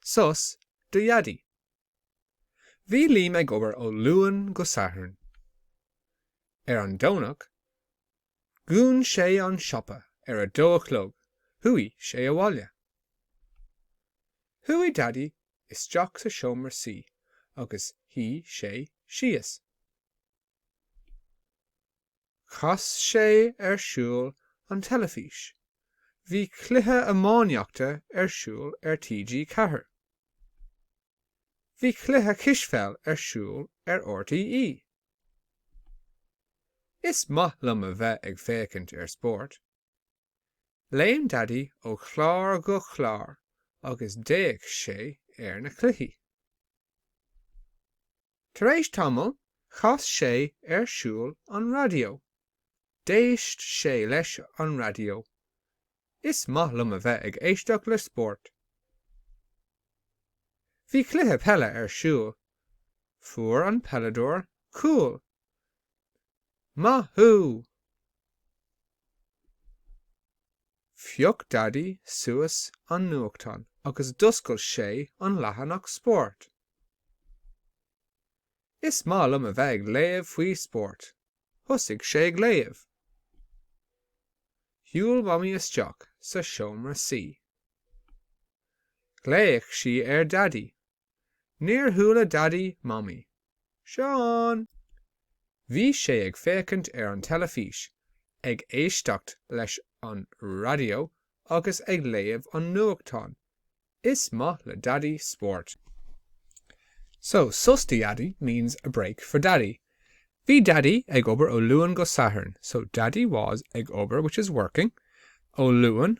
Sos do Dhaidí. Bhí Daidí ag obair ó Luan go Satharn. Ar an Domhnach, dhún sé an siopa ar a dó a chlog, chuaigh sé abhaile. Chuaigh Daidí isteach sa seomra suí agus shuigh sé síos. Chas sé ar siúl an teilifís. Bhí cluiche iománaíochta ar siúl ar TG Ceathair. Bhí cluiche cispheil ar siúl ar RTÉ. Is maith liom a bheith ag féachaint ar spórt. Léim Daidí ó chlár go clár agus d'fhéach sé ar na cluichí. Tar éis tamaill, chas sé ar siúl an raidió. D'éist sé leis an raidió. Is maith liom a bheith ag éisteacht le spórt. Bhí cluiche peile ar siúl. Fuair an peileadóir cúl. Maith thú! Phioc Daidí suas an nuachtán agus d'oscail sé an leathanach spóirt. Is maith liom a bheith ag léamh faoi spórt. Thosaigh sé ag léamh. Shiúil Mamaí isteach sa seomra suí. Ghlaoigh sí ar Dhaidí Níor chuala Daidí Mamaí. Seán! Bhí sé ag féachaint ar an teilifís, ag éisteacht leis an raidió agus ag léamh an nuachtáin, is maith le Daidí spórt. So, sos do Dhaidí means a break for Daddy. Bhí Daidí ag obair ó Luan go Satharn, so Daidí was ag obair which is working ó Luan